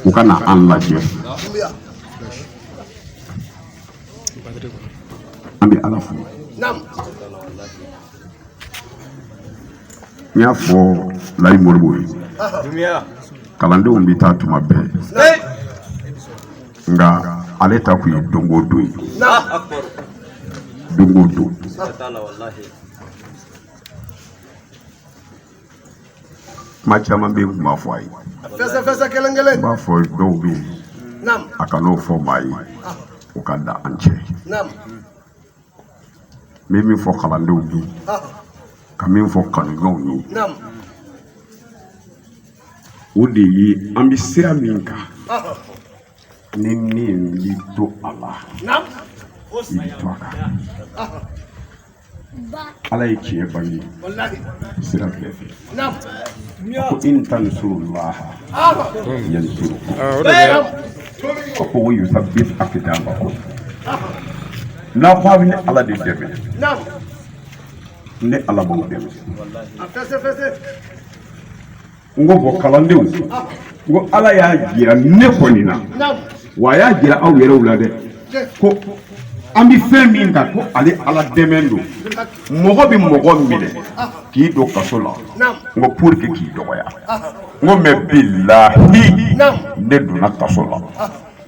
u ka na an lajɛ an bɛ ala fo n y'a fɔ layi moribo ye kalandenw bɛ taa tuma bɛɛ nka ale ta kun ye don o don ye don o don kuma caman bɛ yen kuma fɔ a ye fɛsɛfɛsɛ kelen kelen b'a fɔ dɔw bɛ yen a kan'o fɔ maa ye o ka da an cɛ n bɛ min fɔ kalandenw ye ka min fɔ kanudenw ye o de ye an bɛ sira min kan ni min b'i to a la i bɛ to a kan ala ye tiɲɛ bange sira bɛɛ fɛ ko in tansuru laha yansurukum wa yusabit akdamakum n'a ko a bɛ ne ala de dɛmɛ ne ala b'aw dɛmɛ n ko bɔn kalandenw n ko ala y'a jira ne kɔni na wa a y'a jira aw yɛrɛw la dɛ ko an bɛ fɛn min kan ko ale ala dɛmɛ don mɔgɔ bɛ mɔgɔ minɛ k'i don kaso la n ko pour que k'i dɔgɔya n ko mɛ bilahi ne donna kaso la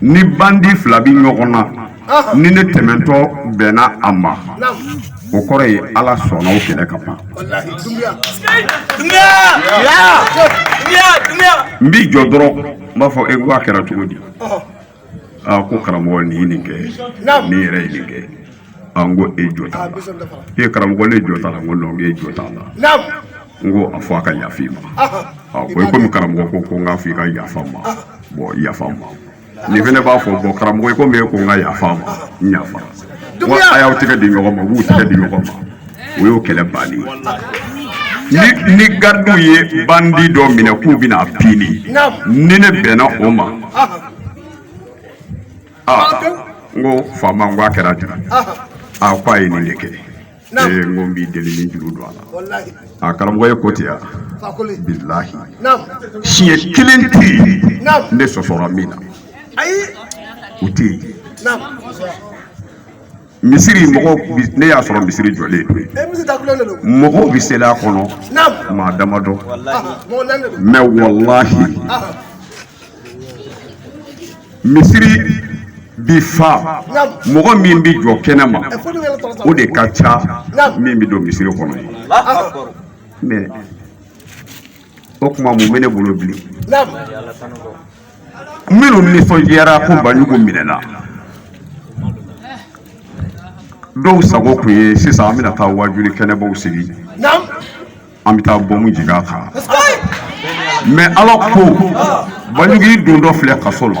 ni bandi fila bɛ ɲɔgɔn na ni ne tɛmɛtɔ bɛnna a ma o kɔrɔ ye ala sɔnna o kɛlɛ ka ban n b'i jɔ dɔrɔn n b'a fɔ e n ko a kɛra cogo di aa ko karamɔgɔ nin ye nin kɛ nin yɛrɛ ye nin kɛ a n ko e jo t'a la e karamɔgɔ ne jo t'a la n ko non e jo t'a la n ko a fɔ a ka yafa i ma a ko i komi karamɔgɔ ko ko n k'a fɔ i ka yafa n ma bɔn yafa n ma nin fana b'a fɔ bɔn karamɔgɔ i komi e ko n ka yafa a ma n yafa wa a y'aw tɛgɛ di ɲɔgɔn ma u b'u tɛgɛ di ɲɔgɔn ma o y'o kɛlɛ bannen ye ni garidiw ye bandi dɔ minɛ k'u bɛna pini ni ne bɛnna o ma n ko faama n ko a kɛra di a ko a ye nin de kɛ ee n ko n b'i deli ni juru don a la a karamɔgɔ ye ko ten ya bilahi siɲɛ kelen tɛ yen ne sɔsɔra min na o tɛ yen misiri mɔgɔw ne y'a sɔrɔ misiri jɔlen don mɔgɔw bɛ seli a kɔnɔ maa damadɔ mɛ walahi misiri bi fa mɔgɔ min bɛ jɔ kɛnɛ ma o de ka ca min bɛ don misiri kɔnɔ ye o tuma mun bɛ ne bolo bilen minnu nisɔndiyara ko banjugu minɛna dɔw sago tun ye sisan an bɛna taa wajuli kɛnɛbaw sigi an bɛ taa bɔmu jigin a kan mɛ ala ko banjugu don dɔ filɛ kaso la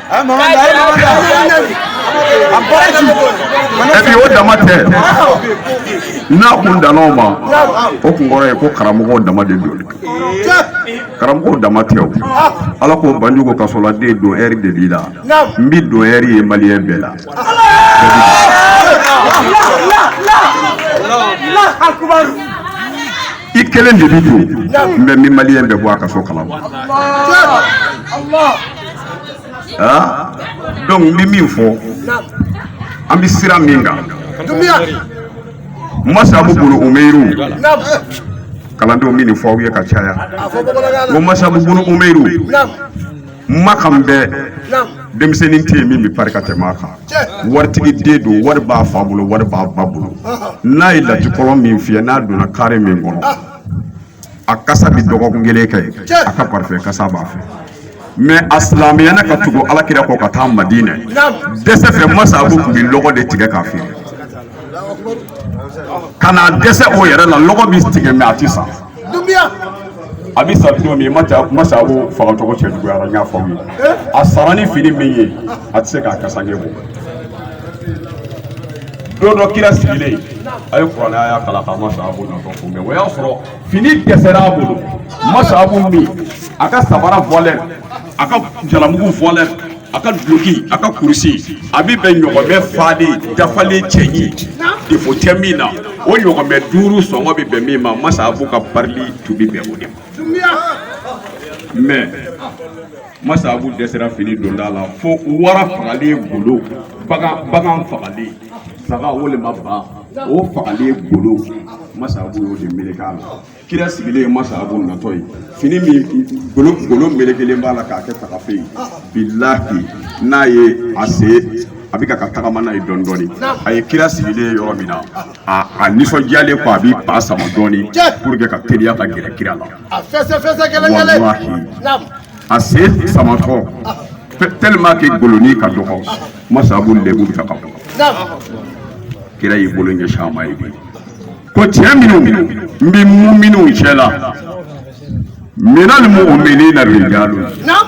Epi o dama tɛ n'a kun danna o ma o kun kɔrɔ ye ko karamɔgɔw dama de don karamɔgɔw dama tɛ o ala ko banjugu kasoladen d'honneur de b'i la n b'i d'honneur ye maliyɛn bɛɛ la i kelen de bi don n bɛ min maliyɛn bɛɛ bɔ a kaso kalama ah? donc n bɛ min fɔ an bɛ sira min kan masabu bun umeyiri kalandenw n bɛ nin fɔ aw ye ka caya ko masabu bun umeyiri makan bɛɛ denmisɛnnin tɛ yen min bɛ pari ka tɛmɛ a kan waritigi den don wari b'a fa bolo wari b'a ba bolo n'a ye latikɔlɔn min fiyɛ n'a donna kare min kɔnɔ a kasa bɛ dɔgɔkun kelen kɛ a ka parfum kasa b'a fɛ mɛ a silamɛyana ka tugu ala kira kɔ ka taa madina dɛsɛ fɛ masabu tun bɛ lɔgɔ de tigɛ k'a feere ka na dɛsɛ o yɛrɛ la lɔgɔ bɛ tigɛ mɛ a tɛ san a bɛ sa don min masabu faga tɔgɔ cɛ juguyara n y'a fɔ aw ye a sara ni fini min ye a tɛ se k'a kasange bɔ don dɔ kira sigilen a ye kuranɛ aya kalan ka masabu natɔ kunbɛn o y'a sɔrɔ fini dɛsɛra a bolo masabu min a ka sabara valeur a ka jalamugu valeur a ka duloki a ka kurusi a bɛ bɛn ɲɔgɔnmɛ falen dafalen cɛɲi defo tɛ min na o ɲɔgɔnmɛ duuru sɔngɔ bɛ bɛn min ma masabu ka parili tun bɛ bɛn o de ma mɛ masabu dɛsɛra fini donta la fo wara fagalen golo bagan bagan fagalen saga walima ba o fagalen golo masabu y'o de meleke a la kira sigilen ye masabu natɔ ye fini min golo golo melekelen b'a la k'a kɛ tagafe ye bilahi n'a ye a se a bɛ ka ka tagama n'a ye dɔɔni dɔɔni a ye kira sigilen ye yɔrɔ min na a a nisɔndiyalen fo a b'i ba sama dɔɔni pour que ka teliya ka gɛrɛ kira la A fɛsɛ fɛsɛ gɛlɛn gɛlɛn. Walahi. Naam. A sen samatɔ tɛ- tellement que golonin ka dɔgɔ masabu lebu bɛ ka bɔ Naam. kira y'i bolo ɲɛsin a ma ye bi ko cɛ minnu n bɛ mun minnu cɛ la minali muuminina rijalu Naam.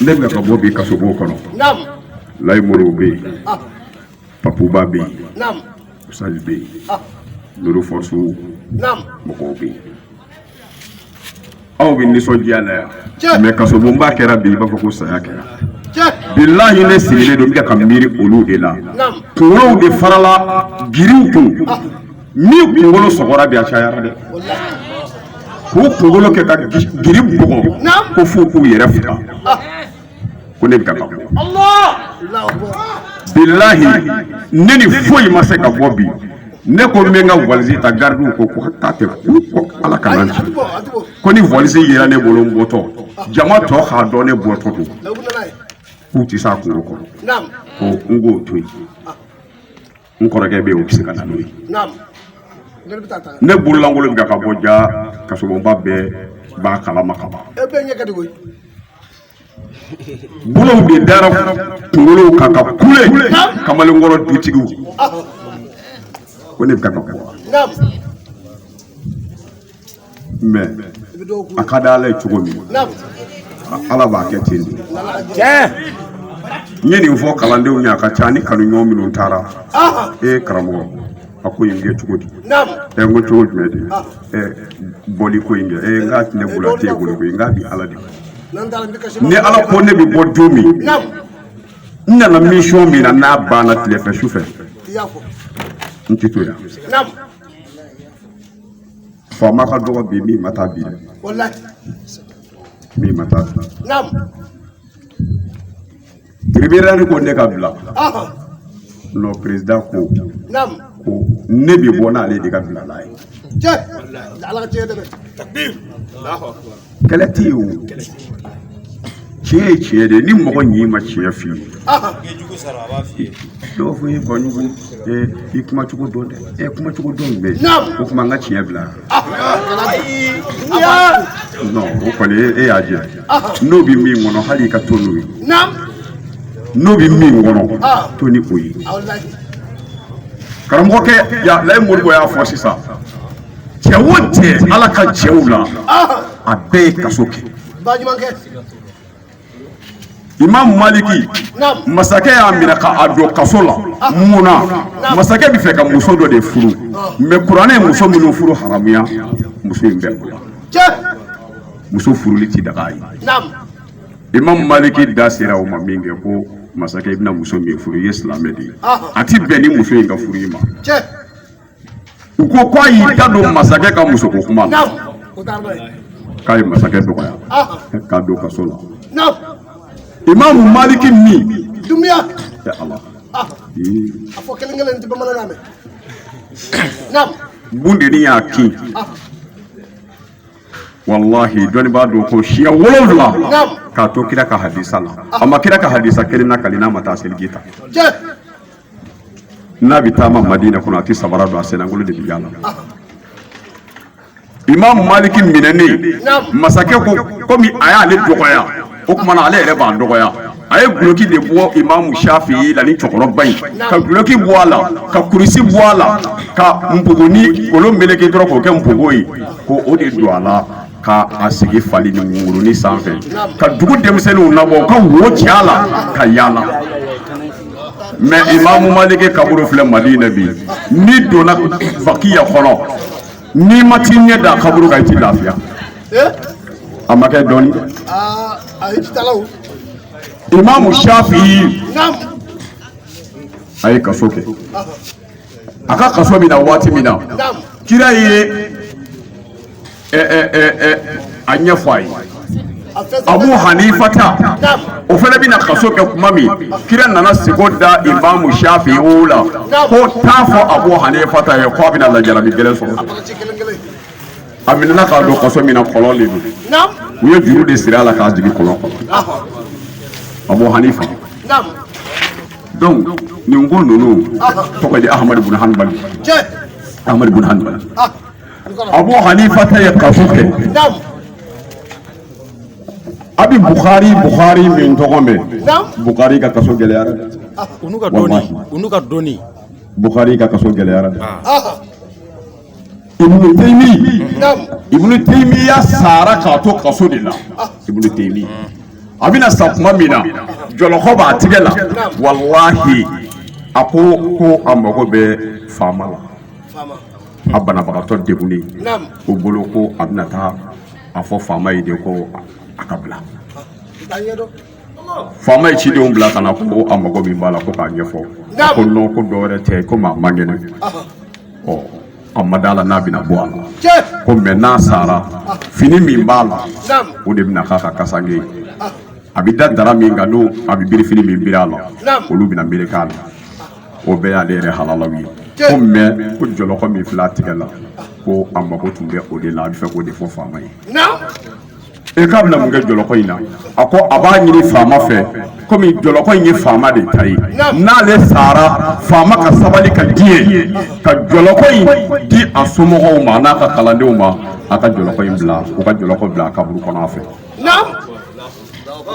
ne bɛ ka bɔ bi kasobon kɔnɔ layi moriw bɛ yen ah. papuba bɛ yen usali bɛ yen ah. nuru fɔsu mɔgɔw bɛ yen aw bɛ nisɔndiya la yan mɛ kasobonba kɛra bi i b'a fɔ ko saya kɛra bilahi ne sigilen don n bɛ ka miiri olu de la kunkolow de farala giriw kun ah. min kunkolo sɔgɔra bi a cayara dɛ k'u kunkolo kɛ ka giri bugɔ ko f'u k'u yɛrɛ faga ko ne bɛ ka ka bɔ bilahi ne ni foyi ma se ka bɔ bi ne ko n bɛ n ka valise ta garidiw ko ko k'a tɛ k'u kɔ ala kana n ci ko ni valise yera ne bolo n bɔtɔ jama tɔ k'a dɔn ne bɔtɔ don k'u tɛ s'a kunko kɔrɔ ko n k'o to yen n kɔrɔkɛ bɛ yen o bɛ se ka na n'o ye ne bololankolon bɛ ka bɔ jaa kasobonba bɛɛ b'a kalama ka ban bolow de dara kunkolow kan ka kule kamalenkɔrɔ dutigiw ko ne bɛ ka ka bɔ wa mɛ a ka di ala ye cogo min ala b'a kɛ ten de n ye nin fɔ kalandenw ye a ka ca ni kanuɲɔgɔn minnu taara e ye karamɔgɔ a ko in kɛ cogo di ɛ n ko cogo jumɛn de ɛ bɔli ko in kɛ ɛ n k'a tɛ ne bolo a tɛ e bolo koyi n k'a bi ala de ni ala ko ne bɛ bɔ don min n nana misiyɔn min na n'a banna tilefɛ su fɛ n tɛ to yan faama ka dɔgɔ bi min ma taa bi dɛ min ma taa bi tiribinali ko ne ka bila nɔ perezidan ko ko ne bɛ bɔ n'ale de ka bila n'a ye kɛlɛ tɛ yen o tiɲɛ ye tiɲɛ de ni mɔgɔ ɲɛ ma tiɲɛ f'i ye dɔw fɔ ye kɔɲugu i kuma cogo dɔn dɛ e kuma cogo dɔn bɛ o kuma n ka tiɲɛ bila non o kɔni e y'a jɛ n'o bɛ min kɔnɔ hali i ka to n'o ye n'o bɛ min kɔnɔ to ni o ye karamɔgɔkɛ ya layi moribo y'a fɔ sisan cɛ o cɛ ala ka cɛw la a bɛɛ ye kaso kɛ imam maliki masakɛ y'a minɛ ka a don kaso la mun na masakɛ b'a fɛ ka muso dɔ de furu mɛ kuranɛ ye muso minnu furu haramuya muso in bɛ o la muso furuli ti daga a ye imam maliki da sera o ma min kɛ ko masakɛ i bɛna muso min furu i ye silamɛ de ye a ti bɛn ni muso in ka furu i ma u ko ko a y'i da don masakɛ ka musoko kuma na k'a ye masakɛ dɔgɔya k'a don kaso la imamu maliki min dumiya ɛ ala a fɔ kelen kelen tɛ bamanankan mɛn naam bundeni y'a kin walahi dɔnnibaa don ko siɲɛ wolonwula k'a to kira ka hadisa la a ma kira ka hadisa kelen lakali n'a ma taa seliji ta n'a bɛ taama madina kɔnɔ a tɛ sabara don a sennankolon de bɛ yaala imam maliki minɛnen masakɛ ko komi a y'ale dɔgɔya o tuma na ale yɛrɛ b'a dɔgɔya a ye guloki de bɔ imamu shafi la ni cɛkɔrɔba in ka guloki bɔ a la ka kurusi bɔ a la ka npogoni kolo meleke dɔrɔn k'o kɛ npogo ye ko o de don a la ka a sigi falini wunguruni sanfɛ ka dugu denmisɛnninw labɔ ka wo ci a la k'a yaala mɛ imamu maliki kaburu filɛ madina bi n'i donna bakiya kɔnɔ n'i ma t'i ɲɛ da kaburu kan i ti lafiya a ma kɛ dɔɔni imamu shafi a ye kaso kɛ a ka kaso min na waati min na kira ye a ɲɛfɔ a ye abu hanifata o fana bɛna kaso kɛ kuma min kira nana siko da imamu shafi o la ko t'a fɔ abu hanifata ye k'a bɛna lajarabi gɛlɛn sɔrɔ a minɛna k'a don kaso min na kɔlɔn de don u ye juru de siri a la k'a jigin kɔlɔn kɔnɔ abu hanifa donc nin ko ninnu tɔgɔ di ahamadu bun hanbali ahamadu bun hanbali Abu Hanifata ye kaso kɛ a bɛ Bukhari Bukhari min tɔgɔ mɛn Bukhari ka kaso gɛlɛyara ah, u n'u ka dɔnni u n'u ka dɔnni Bukhari ka kaso gɛlɛyara ah. Ibnu Taymi Ibnu Taymiya sara k'a to kaso de la ah. Ibnu Taymiya bɛna sa tuma min na jɔlɔkɔ b'a tigɛ la walahi a ko ko a mago bɛ faama la a banabagatɔ degunnen ko bolo ko a bɛna taa a fɔ faama ye de ko a ka bila faama ye cidenw bila ka na ko a mago min b'a la ko k'a ɲɛfɔ ko nɔn ko dɔ wɛrɛ tɛ ko maa man kɛnɛ ɔ a ma d'a la n'a bɛna bɔ a la ko mɛ n'a sara fini min b'a la o de bɛna k'a ka kasange ye a bɛ da dara min kan n'o a bɛ birifini min biri a la olu bɛna melek'a la o bɛɛ y'ale yɛrɛ halalaw ye ko mɛ ko jɔlɔkɔ min fila tigɛ la ko a mako tun bɛ o de la a b'a fɛ k'o de fɔ faama ye e k'a bɛna mun kɛ jɔlɔkɔ in na a ko a b'a ɲini faama fɛ komi jɔlɔkɔ in ye faama de ta ye n'ale sara faama ka sabali ka diɲɛ ka jɔlɔkɔ in di a somɔgɔw ma n'a ka kalandenw ma a ka jɔlɔkɔ in bila u ka jɔlɔkɔ bila a kaburu kɔnɔ a fɛ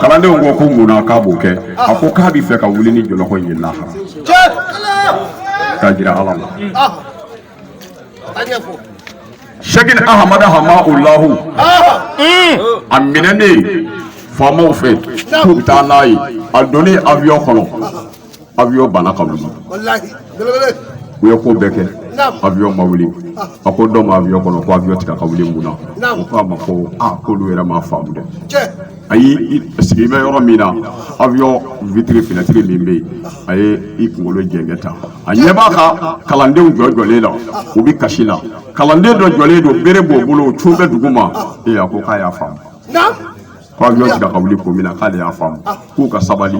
kalandenw ko ko mun na k'a b'o kɛ a ko k'a b'a fɛ ka wuli ni jɔlɔkɔ in ye lahara k'a jira ala la sɛkina ahamada hamawulahu a minɛnen faamaw fɛ k'u bɛ taa n'a ye a donnen awiyɔn kɔnɔ avion banna ka wuli u ye ko bɛɛ kɛ avion ma wuli ah. a ko dɔ ma avion kɔnɔ ko avion tɛ kan ka wuli mun na u k'a ma ko a ah, k'olu yɛrɛ m'a faamu dɛ ayi sigi bɛ yɔrɔ min na avion vitre fenêtre min bɛ yen a ye i kunkolo jɛngɛ tan a ɲɛ b'a ka kalandenw jɔ jɔlen la u bɛ kasi la kalanden dɔ jɔlen don bere b'o bolo cun bɛ dugu ma ee a ko k'a y'a faamu ko avion tɛ kan ka wuli ko min na k'ale y'a faamu k'u ka sabali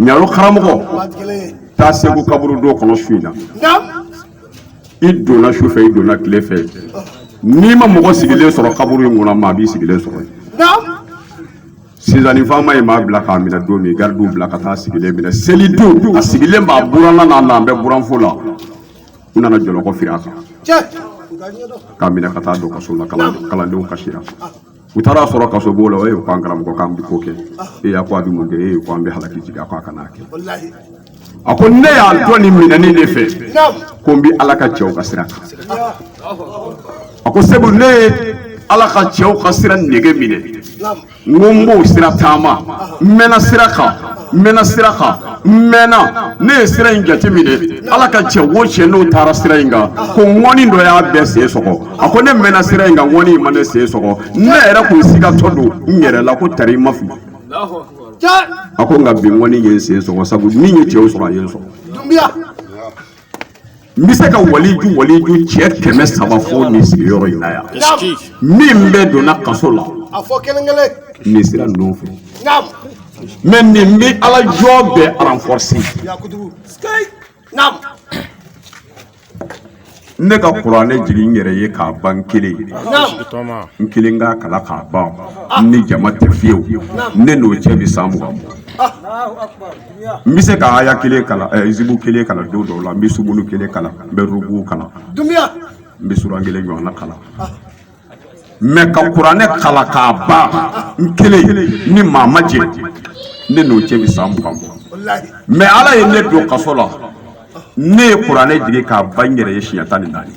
ɲaro karamɔgɔ taa segu kaburudo kɔnɔ su in na i donna su fɛ i donna tile fɛ n'i ma mɔgɔ sigilen sɔrɔ kaburu in kɔnɔ maa b'i sigilen sɔrɔ sisan ni faama ye maa bila k'a minɛ don min garidiw bila ka taa sigilen minɛ seli don a sigilen b'a buranna n'a nalen bɛ buranfo la u nana jɔlɔkɔ firi a kan k'a minɛ ka taa don kaso la kalandenw kasira u taara a sɔrɔ kasobon la o ye ko an karamɔgɔ k'an bɛ ko kɛ e a ko a bɛ mun kɛ e ko an bɛ halaki jigin a ko a kana kɛ a ko ne y'a dɔn ne minɛni de fɛ ko n bɛ ala ka cɛw ka sira kan a ko segu ne ye ala ka cɛw ka sira nege minɛ n ko n b'o sira taama n mɛnna sira kan n mɛnna sira kan n mɛnna ne ye sira in jate minɛ ala ka cɛ wo cɛ n'o taara sira in kan ko ŋɔni dɔ y'a bɛɛ sen sɔgɔ a ko ne mɛnna sira in kan ŋɔni in ma ne sen sɔgɔ ne yɛrɛ tun sigatɔ don n yɛrɛ la ko tari n ma fili a ko nka bi ŋɔni ye n sen sɔgɔ sabu min ye cɛw sɔrɔ a ye n sɔrɔ n bɛ se ka waliju waliju cɛ kɛmɛ saba fɔ nin sigiyɔrɔ in na yan min bɛɛ donna kaso la nin sira ninnu fɛ mɛ nin bɛ ala jɔn bɛɛ renforcer ne ka kuranɛ jigin n yɛrɛ ye k'a ban n kelen n kelen k'a kalan k'a ban ah. ni jama tɛ fiyewu ne n'o cɛ bɛ san mugan bɔ ah. n bɛ se ka aya kelen kalan eh, zibu kelen kalan don dɔw la n bɛ sumunu kelen kalan n bɛ rubu kalan n bɛ suran kelen ɲɔgɔnna kalan ah. mɛ ka kuranɛ kalan k'a ban n kelen ni maa ma jɛ ne n'o cɛ bɛ san mugan bɔ mɛ ala ye ne don kaso la ne ye kuranɛ jigin k'a ban n yɛrɛ ye siɲɛ tan ni naani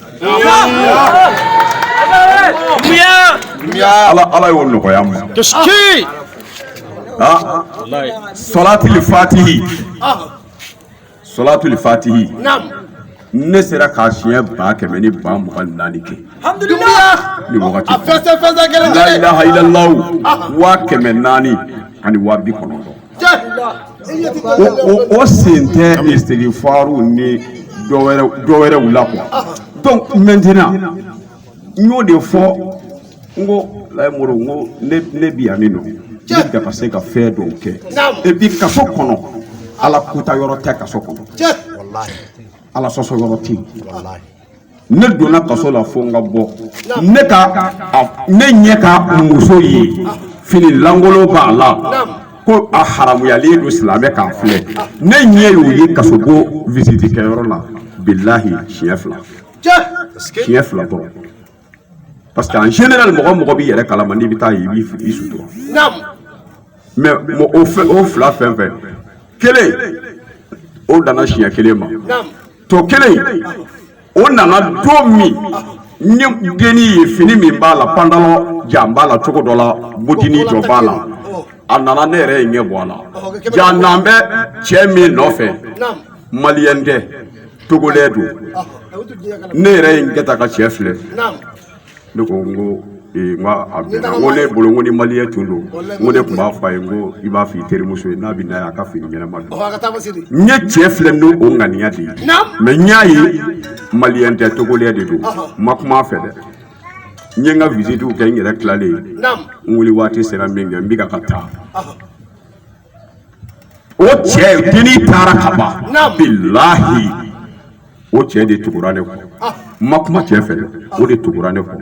ala ala y'o nɔgɔya n ma ah. ah. salati fatihi solatul fatihi ne sera k'a siɲɛ ba kɛmɛ ni ba mugan ni naani kɛ ni wagati la ilaha illallah waa kɛmɛ naani ani waa bi kɔnɔntɔn o sen tɛ istigifaru ni dɔwɛrɛw la quoi donc maintenant n y'o de fɔ n ko layi mori n ko ne ne bi yan min don ne dafa se ka fɛn dɔw kɛ et puis kaso kɔnɔ ala kuta yɔrɔ tɛ kaso kɔnɔ ala sɔsɔ yɔrɔ tɛ yen ne donna kaso la fo n ka bɔ ne ka ne ɲɛ ka muso ye fini lankolon b'a la ko a haramuyalen don silamɛ k'a filɛ ne ɲɛ y'o ye kasobon visite kɛyɔrɔ la bilahi siɲɛ fila siɲɛ fila dɔrɔn parce que en général mɔgɔ mɔgɔ b'i yɛrɛ kalama n'i bɛ taa yen i b'i sutura mɛ o fɛn o fila fɛn fɛn kelen o danna siɲɛ kelen ma tɔ kelen o nana don min n ye dennin ye fini min b'a la pantalon jan b'a la cogo dɔ la bɔdinin jɔ b'a la a nana ne yɛrɛ ye n ɲɛ bɔ a la jaa a nalen bɛ cɛ min nɔfɛ maliyɛn tɛ togolɛ don ne yɛrɛ ye n kɛ ta ka cɛ filɛ ne ko n ko ee n ka a bɛnna n ko ne bolo n ko ni maliyɛn tun don n ko ne tun b'a fɔ a ye n ko i b'a f'i terimuso ye n'a bɛ na yan a ka fini ɲɛnama don n ye cɛ filɛ n'o ŋaniya de ye mɛ n y'a ye maliyɛn tɛ togolɛ de don n ma kuma a fɛ dɛ n ye n ka visitiw kɛ n yɛrɛ tilalen n wuli waati sera min kɛ n bɛ ka ka taa o cɛ dennin taara ka ban bilahi o cɛ de tugura ne kɔ n ma kuma cɛ fɛ o de tugura ne kɔ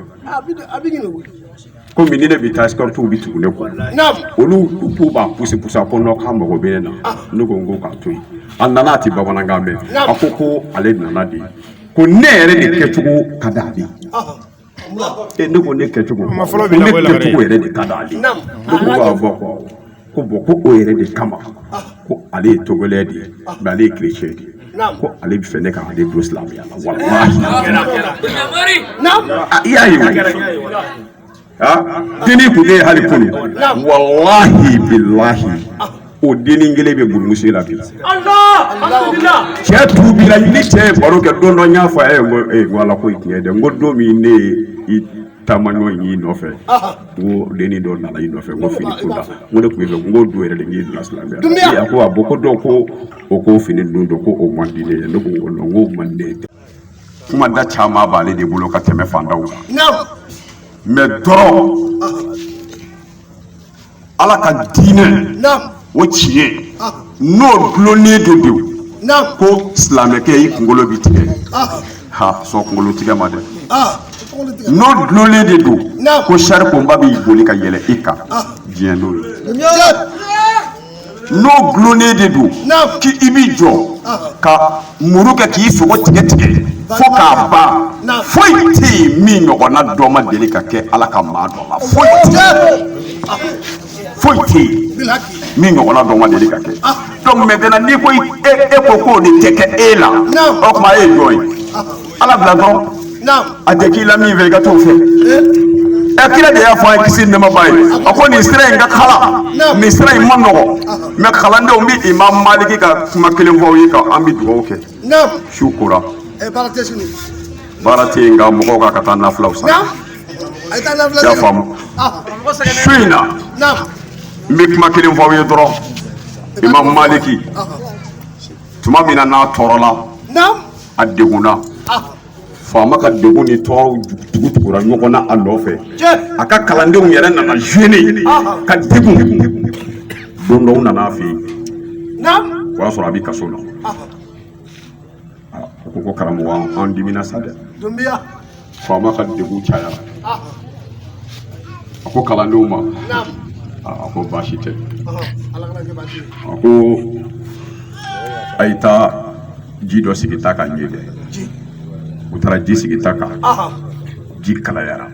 komi ni ne bɛ taa sikɔritiw bɛ tugu ne kɔ olu k'u b'a pusi pusi a ko nɔn k'a mago bɛ ne na ne ko n ko k'a to yen a nana a tɛ bamanankan mɛn a ko ko ale nana de ko ne yɛrɛ de kɛcogo ka di ale ye ne ko ne kɛcogo ne kɛcogo yɛrɛ de ka di ale ye ko ko bɔn ko o yɛrɛ de kama ko ale ye togolɛ de ye mɛ ale ye kerecɛn de ye ko ale b'a fɛ ne ka ale don silamɛya la walahi i y'a ye dennin tun bɛ yen hali kunun walahi bilahi o dennin kelen bɛ burumusi la bi cɛ tuubira ni cɛ ye baro kɛ don dɔ n y'a fɔ a ye n ko ee ko ala ko ye tiɲɛ dɛ n ko don min ne ye i taamaɲɔ y'i nɔfɛ n ko dennin dɔ nana i nɔfɛ n ko fini ko la n ko ne tun b'a fɛ n ko don yɛrɛ de n'i bila silamɛya la a ko a mɔgɔ dɔw ko o ko fini dun dɔ ko o man di ne ye ne ko n ko n ko man di ne ye kuma da caman b'ale de bolo ka tɛmɛ fandaw kan mɛ dɔrɔn ala ka diinɛ o tiɲɛ n'o dulonnen de don ko silamɛkɛ i kunkolo bɛ tigɛ ha sɔn kunkolo tigɛ ma dɛ n'o dulonnen de don ko sarikonba bɛ boli ka yɛlɛ i kan diɲɛ n'o ye n'o dulonnen de don k'i b'i jɔ ka muru kɛ k'i sogo tigɛ tigɛ fo k'a ban foyi tɛ yen min ɲɔgɔnna dɔ ma deli ka kɛ ala ka maa dɔ la foyi tɛ foyi tɛ yen min ɲɔgɔnna dɔ ma deli ka kɛ donc maintenant n'i ko e e ko k'o de tɛ kɛ e la o tuma e ye jɔn ye ala bila dɔrɔn a tɛ k'i la min fɛ i ka t'o fɛ ɛ kira de y'a fɔ an ye kisi ni nɛɛma b'a ye a ko nin sira in ka kalan nin sira in man nɔgɔn mɛ kalandenw n bɛ imam maliki ka kuma kelen fɔ aw ye ka an bɛ dugawu kɛ su kora baara tɛ yen nka mɔgɔw ka kan ka taa nafilaw san y'a faamu su in na n bɛ kuma kelen fɔ aw ye dɔrɔn imam maliki tuma min na n'a tɔɔrɔla a degunna faama ka degun ni tɔɔrɔw tugu tugura ɲɔgɔn na a nɔfɛ a ka kalandenw yɛrɛ nana gêné ka degun don dɔ u nana a fɛ yen u y'a sɔrɔ a bɛ kaso la u ko ko karamɔgɔ an dimina sa dɛ faama ka degun cayara a ko kalandenw ma a ko baasi tɛ a ko a ye taa ji dɔ sigi ta kan n ye dɛ u taara ji sigi ta kan ji kalayara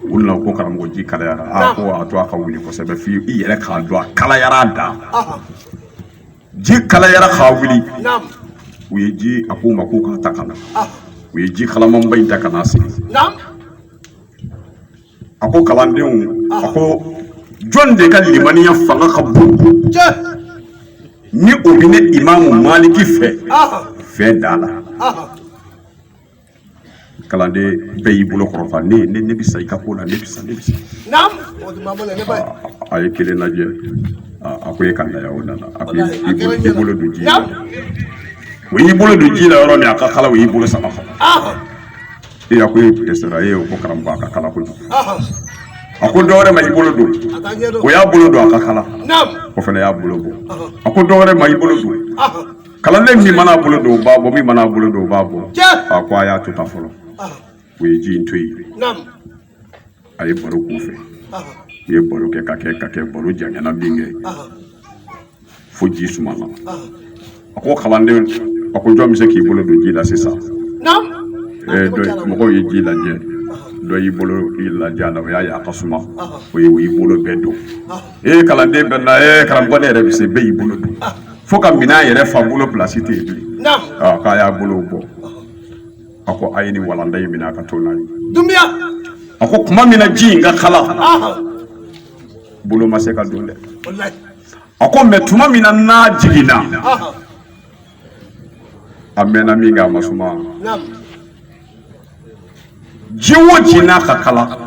u nana ko karamɔgɔ ji kalayara a ko a to a ka wuli kosɛbɛ fo i yɛrɛ k'a dɔn a kalayara a dan ji kalayara ka wuli u ye ji a ko u ma ko k'a ta ka na ah. u ye ji kalamanba in ta ka n'a sigi a ko kalandenw ah. a ko jɔn de ka limaniya fanga ka bon ko ni o bɛ ne imamu maliki fɛ ah. fɛn da la kalanden bɛɛ y'i bolo kɔrɔta ne ne ne bɛ sa i ka ko la ne bɛ sa ne bɛ sa a ye kelen lajɛ a ko e ka na o nana a ko i bolo don ji la o y'i bolo don ji la yɔrɔ min a ka kala o y'i bolo sama e a ko e dɛsɛra e ko karamɔgɔ a ka kala kojugu a ko dɔwɛrɛ ma i bolo don o y'a bolo don a ka kala o fana y'a bolo bɔ a ko dɔwɛrɛ ma i bolo don kalanden min mana bolo don o b'a bɔ min mana bolo don o b'a bɔ a ko a y'a to tan fɔlɔ o ye ji in to yen a ye baro k'u fɛ u ye baro kɛ ka kɛ ka kɛ baro janyana min kɛ fo ji sumana a ko kalanden a ko jɔn bɛ se k'i bolo don ji la sisan mɔgɔw ye ji lajɛ dɔ y'i bolo lajɛ a la o y'a ye a ka suma o ye o y'i bolo bɛɛ don e ye kalanden bɛɛ nana eh, karamɔgɔ ne yɛrɛ bɛ se bɛɛ y'i bolo don fo ka minɛn yɛrɛ fa bolo pilasi tɛ yen bilen ah, k'a y'a bolo bɔ a ko a ye nin walanda in minɛ a ka to n'a ye don bɛɛ a ko tuma min na ji in ka kala ah. bolo ma se ka don dɛ a ko mɛ tuma min na n'a jiginna ah. a mɛnna min kɛ a ma suma ji o ji n'a ka kala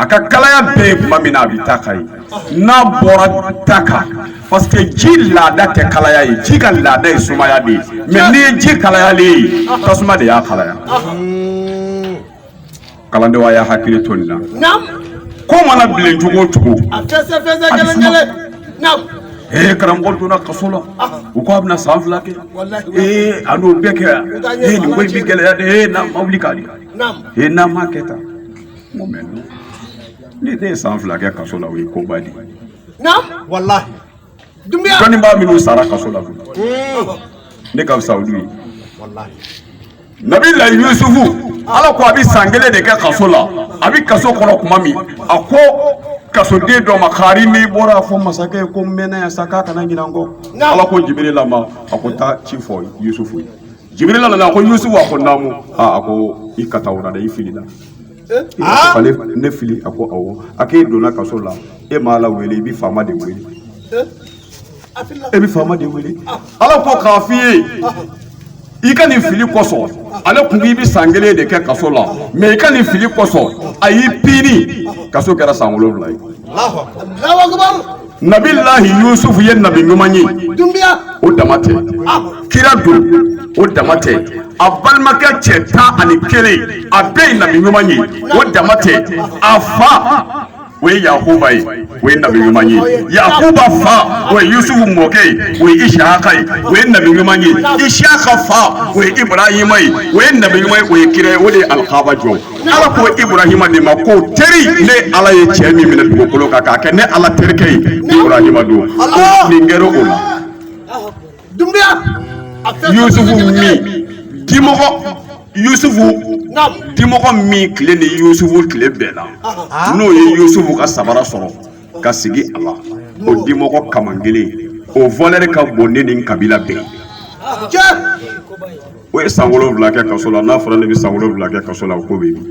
a ka kalaya bɛ yen tuma min na a bɛ ta kan yen n'a bɔra ta kan parce que ji laada tɛ kalaya ye ji ka laada ye sumaya de ye mɛ n'i ye ji kalayalen ye tasuma de y'a kalaya. kalandenw a y'a hakili to nin na ko mana bilen cogo o cogo a tɛ se fɛn se kelen kelen ee karamɔgɔ donna kaso la u ko a bɛna san fila kɛ ee a n'o bɛɛ kɛ ee nin ko in bɛ gɛlɛya dɛ ee n'a ma wuli k'a di ee n'a ma kɛ tan n ko mɛ ni ne ye san fila kɛ kaso la o ye koba de ye walahi dɔnnibaa minnu sara kaso la ne ka fisa olu ye nabila yusufu ala ko a bɛ san kelen de kɛ kaso la a bɛ kaso kɔnɔ tuma min a ko kasoden dɔ ma kari n'i bɔra a fɔ masakɛ ye ko n mɛnna yan sa k'a kana ɲinɛ n kɔ ala ko jibirila ma a ko taa ci fɔ yusufu ye jibirila nana a ko yusufu a ko naamu aa a ko i ka taa o la dɛ i filila ne fili a ko awɔ a k'e donna kaso la e m'ala wele i bɛ faama de wele e bɛ faama de wele ala ko k'a f'i ye i ka nin fili kosɔn ale kun k'i bɛ san kelen de kɛ kaso la mɛ i ka nin fili kosɔn a y'i pini kaso kɛra san wolonwula ye nabilahi yusufu ye nabi ɲuman ye o dama tɛ kira don o dama tɛ a balimakɛ cɛ tan ani kelen a bɛɛ ye nabi ɲuman ye o dama tɛ a fa o ye yakuba ye o ye nabi ɲuman ye yakuba fa o ye yusufu mɔkɛ ye o ye isaka ye o ye nabi ɲuman ye isaka fa o ye ibrahima ye o ye nabi ɲuman ye o ye kira ye o de ye alikaba jɔ ala ko iburahima de ma ko teri ne ala ye cɛ min minɛ dugukolo kan k'a kɛ ne ala terikɛ ye iburahima don nin kɛra o la yusufu min dimɔgɔ yusufu dimɔgɔ min tile ni yusufu tile bɛnna n'o ye yusufu ka sabara sɔrɔ ka sigi a la o dimɔgɔ kaman kelen o valɛri ka bon ne ni n kabila bɛɛ o ye san wolonwula kɛ kaso la n'a fɔra ne bɛ san wolonwula kɛ kaso la o ko bɛ yen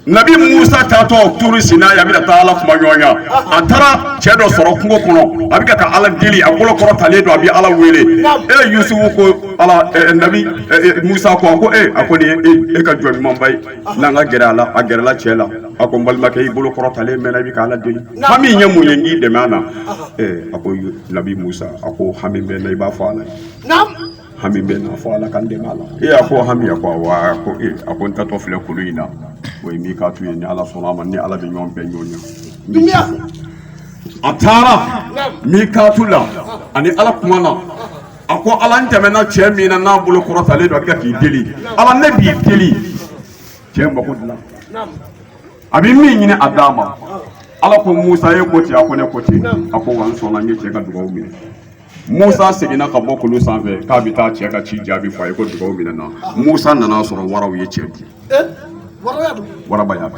nabi musa taatɔ turu sina a bɛ ka taa ala kumaɲɔgɔnya a taara cɛ dɔ sɔrɔ kungo kɔnɔ a bɛ ka ala deli a bolo kɔrɔtalen don a bɛ ala wele e yusufu ko ala nabi musa ko a ko e a ko nin ye e ka jɔn ɲumanba ye n'an ka gɛrɛ a la a gɛrɛla cɛ la a ko n balimakɛ i bolo kɔrɔtalen mɛnna i bɛ k'ala deli hami ye mun ye n'i dɛmɛ a na a ko nabi musa a ko hami bɛ n na i b'a fɔ ala ye hami bɛ n na fɔ ala ka n dɛmɛ a la ee a ko hami a ko awa a ko ee a ko n taatɔ filɛ kulu in na o ye mikatu ye ni ala sɔnna a ma ni ala bɛ ɲɔgɔn bɛɛ ɲɔgɔn ye a taara mikatu la a ni ala kumana a ko ala n tɛmɛna cɛ min na n'a bolo kɔrɔtalen don a bɛ ka k'i deli ala ne b'i deli cɛ mako dilan a bɛ min ɲini a d'a ma ala ko musa e ko ten a ko ne ko ten a ko wa n sɔnna n ye cɛ ka dugawu minɛ musa seginna ka bɔ kulu sanfɛ k'a bɛ taa cɛ ka ci jaabi fɔ a ye ko dugawu minɛna musa nana sɔrɔ waraw ye cɛ dun waraba y'a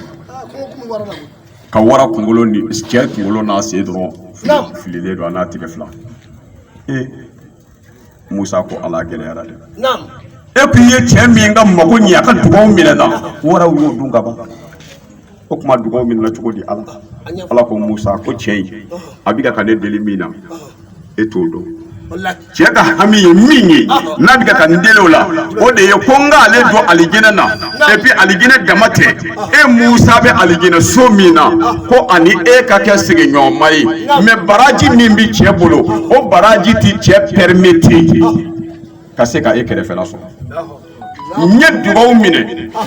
ka wara kunkolo ni cɛ kunkolo n'a sen dɔrɔn fililen don a n'a tɛgɛ fila ee musa ko ala gɛlɛyara dɛ e kun ye cɛ min ka mago ɲɛ a ka dugaw minɛna waraw y'o dun ka ban o kuma dugaw minɛna cogo di ala ala ko musa ko cɛ in a bɛ ka ne deli min na e t'o dɔn cɛ ka hami ye min ye n'a bɛ ka n deli o la o de ye ko n k'ale don alijinɛ na epi alijinɛ dama tɛ e musa bɛ alijinɛ so min na ko a ni e ka kɛ sigiɲɔgɔnma ye mɛ baraji min bɛ cɛ bolo o baraji tɛ cɛ pɛrɛmete ka se ka e kɛrɛfɛla sɔrɔ n ye dugaw minɛ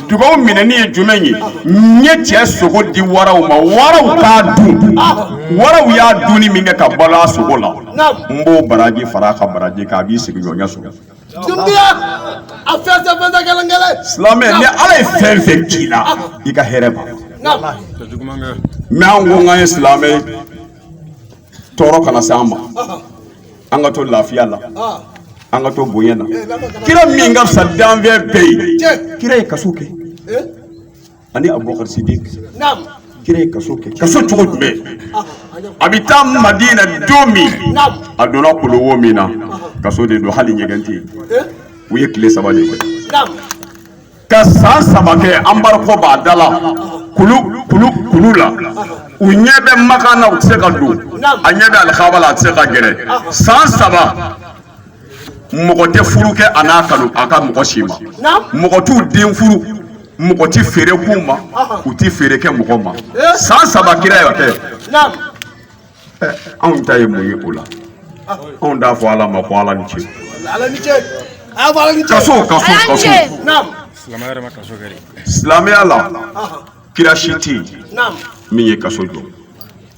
dugaw minɛni ye jumɛn ye n ye cɛ sogo di waraw ma waraw k'a dun waraw y'a dunni min kɛ ka balo a sogo la n b'o baraji fara a ka baraji kan a b'i sigiɲɔgɔnya sɔrɔ silamɛ ni ala ye fɛn fɛn k'i la i ka hɛrɛ b'a mais an ko k'an ye silamɛ tɔɔrɔ kana se an ma an ka to lafiya la an ka to bonya la kira min ka fisa danfɛn bɛɛ ye kira ye kaso kɛ ani abubakar sidik kira ye kaso kɛ kaso cogo jumɛn a bɛ taa madina don min a donna kuluwo min na kaso de don hali ɲɛgɛn tɛ yen u ye tile saba de kɛ ka san saba kɛ embargo b'a da la kulu kulu kulu la u ɲɛ bɛ makan na u tɛ se ka don a ɲɛ bɛ alikaba la a tɛ se ka gɛrɛ san saba mɔgɔ tɛ furu kɛ a n'a kanu a ka mɔgɔ si ma mɔgɔ t'u den furu mɔgɔ tɛ feere k'u ma u tɛ feere kɛ mɔgɔ ma eh? san saba kira y'a kɛ eh, anw ta ye mun ye o la ah. anw t'a fɔ ala ma ko ala ni ce kaso kaso kaso silamɛya la kira si tɛ yen min ye kaso jɔ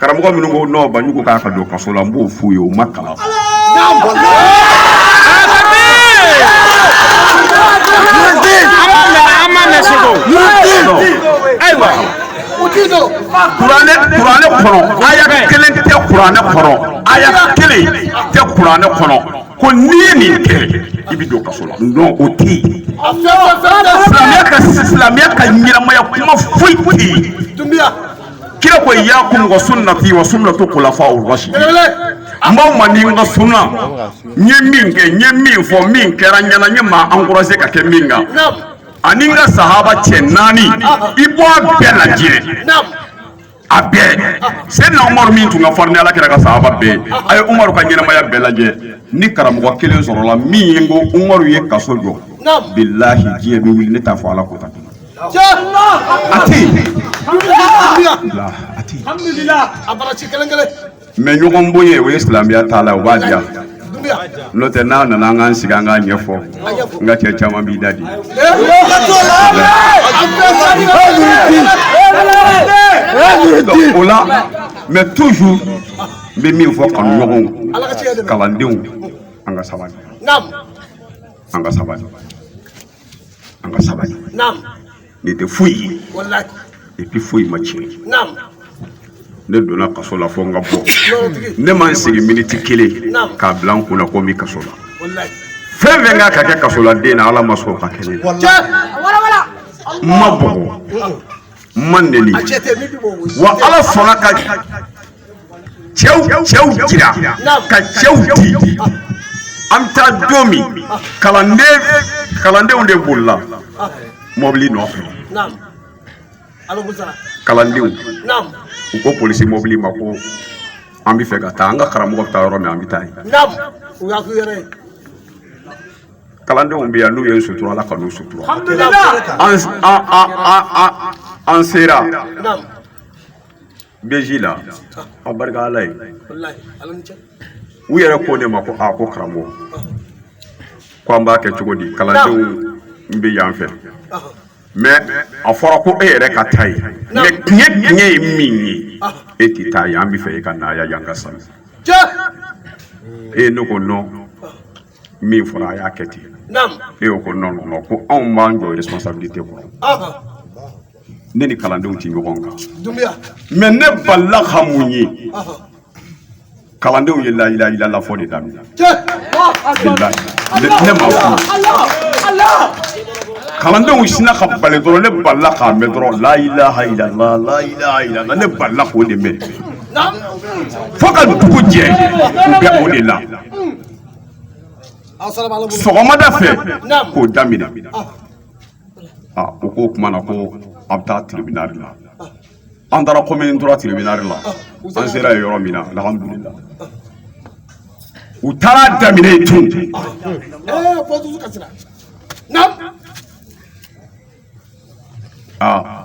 karamɔgɔ minnu ko non banjugu k'a ka don kaso la n b'o f'u ye u ma kalan ayiwa kuranɛ kuranɛ kɔnɔ aya kelen tɛ kuranɛ kɔnɔ aya kelen tɛ kuranɛ kɔnɔ ko n'i ye nin kɛ i bɛ don kaso la non o tɛ yen silamɛya ka silamɛya ka ɲɛnamaya kuma foyi tɛ yen kira ko iyakum wa sunnati wa sunnatu khulafa'ur rashidin n b'aw man di n ka sunna n ye min kɛ n ye min fɔ min kɛra n ɲɛna n ye maa encouragé ka kɛ min kan ani n ka sahaba cɛ naani i bɔ a bɛɛ lajɛ a bɛɛ sɛdina umaru min tun ka farin ni ala kira ka sahaba bɛɛ a ye umaru ka ɲɛnamaya bɛɛ lajɛ ni karamɔgɔ kelen sɔrɔla min ye n ko umaru ye kaso jɔ bilahi diɲɛ bɛ wuli ne t'a fɔ ala ko ta mais ɲɔgɔn bonya o ye silamɛya t'a la o b'a diya n'o tɛ n'a nana an k'an sigi an k'a ɲɛfɔ n ka cɛ caman b'i da di o la mais toujours n bɛ min fɔ kanuɲɔgɔnw kalandenw an ka sabali an ka sabali an ka sabali naamu ne tɛ foyi ye walayi et puis foyi ma tiɲɛ naamu ne donna kaso la fo n ka bɔ yɔrɔtigi ne ma n sigi miniti kelen Naamu. k'a bila n kun na ko n bɛ kaso la walayi fɛn fɛn ka kan ka kɛ kasoladen na ala ma sɔn o ka kɛ ne la cɛ n ma bugɔ n ma nɛni a cɛ tɛ min bɛ bɔ o si wa tɛ. ala sɔnna ka cɛw cɛw jira ka cɛw di an bɛ taa don min kalanden kalandenw de bolila mɔbili nɔfɛ kalandenw u ko polisi mɔbili ma ko an bɛ fɛ ka taa an ka karamɔgɔ bɛ taa yɔrɔ min an bɛ taa yen kalandenw bɛ yan n'u ye sutura ala ka n'u sutura an sera BIJ la a barika ala ye u yɛrɛ ko ne ma ko a ko karamɔgɔ ko an b'a kɛ cogo di kalandenw ninnu bɛ yan fɛ mɛ a fɔra ko e yɛrɛ ka taa yen mɛ tiɲɛ tiɲɛ ye min ye e tɛ taa yan an bɛ fɛ e ka na yan yan ka sa e ye n ko non min fɔra a y'a kɛ ten e y'o ko non non ko non ko anw b'an jɔ responsabilité kɔrɔ ne ni kalandenw tɛ ɲɔgɔn kan mɛ ne balila ka min ye kalandenw ye layilaha ilala fɔ de daminɛ ne ma kuma kalandenw sinna ka bali dɔrɔn ne balila k'a mɛn dɔrɔn layilaha ilala layilaha ilala ne balila k'o de mɛn fo ka dugu jɛ u bɛ o de la sɔgɔmada fɛ k'o daminɛ ah, u k'o kuma na ko a bɛ taa tiribinari la an taara commune trois tiribinari la an sera yen yɔrɔ min na alhamdulila u taar'a daminɛ yen tun aa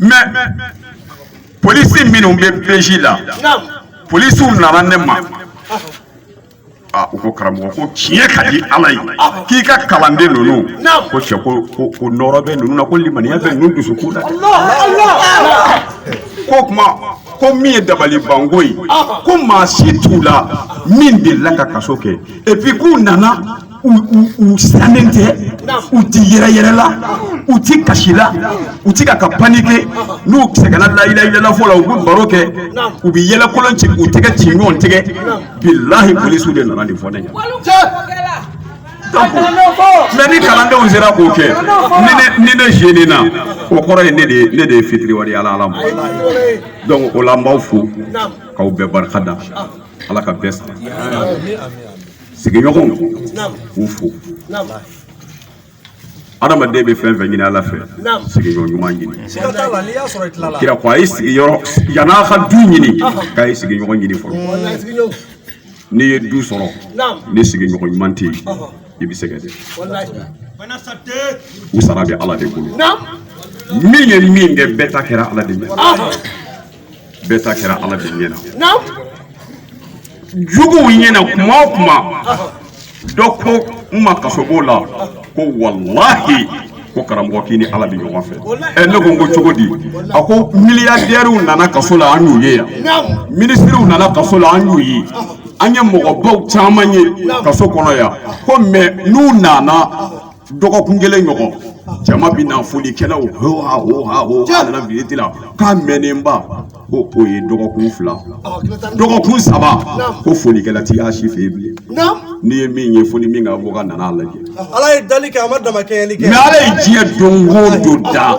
mɛ polisi minnu bɛ BIJ la polisiw nana ne ma ah, u ko karamɔgɔ ko tiɲɛ ka di ala ye k'i ka kalanden ninnu ko cɛ ko ko nɔɔrɔ bɛ ninnu na ko limaniya bɛ ninnu dusukun na ko kuma ko min ye dabali banko ye ko maa si t'u la min delila ka kaso kɛ epi k'u nana u siranlen tɛ u tɛ yɛrɛyɛrɛ la u tɛ kasi la u tɛ ka ka panike n'u sɛgɛnna layilaha ilala fɔ la u bɛ baro kɛ u bɛ yɛlɛkolon ci u tɛgɛ ci ɲɔgɔn tɛgɛ bilahi polisiw de nana nin fɔ ne ɲɛ mɛ ni kalandenw sera k'o kɛ ni ne zenena o kɔrɔ ye ne de ye ne de ye fitiriwale ye ala ala ma donc o la n b'aw fo k'aw bɛɛ barika da ala ka bɛɛ sara sigiɲɔgɔn k'u fo adamaden bɛ fɛn o fɛn ɲini ala fɛ sigiɲɔgɔn ɲuman ɲini kira ko a ye sigiyɔrɔ yan'a ka du ɲini k'a ye sigiɲɔgɔn ɲini fɔlɔ n'i ye du sɔrɔ ni sigiɲɔgɔn ɲuman tɛ yen i bɛ sɛgɛn dɛ u sara bɛ ala de bolo min ye min kɛ bɛɛ ta kɛra ala de ye bɛɛ ta kɛra ala de ɲɛ na juguw ɲɛ na kuma o kuma dɔ ko n ma kasobon la ko walahi ko karamɔgɔ k'i ni ala bɛ ɲɔgɔn fɛ ɛ ne ko n ko cogo di a ko miliyardɛriw nana kaso la an y'u ye yan minisiriw nana kaso la an y'u ye an ye mɔgɔbaw caman ye kaso kɔnɔ yan ko mɛ n'u nana dɔgɔkun kelen ɲɔgɔn jama bɛ na folikɛlaw hoha hoha hoha nana visite la k'a mɛnnenba ko o ye dɔgɔkun fila dɔgɔkun saba ko folikɛla tɛ a si fɛ yen bilen n'i ye min ye fo ni min ka avocat nana a lajɛ ala ye dali kɛ a ma damakɛɲɛli kɛ mɛ ala ye diɲɛ don o don da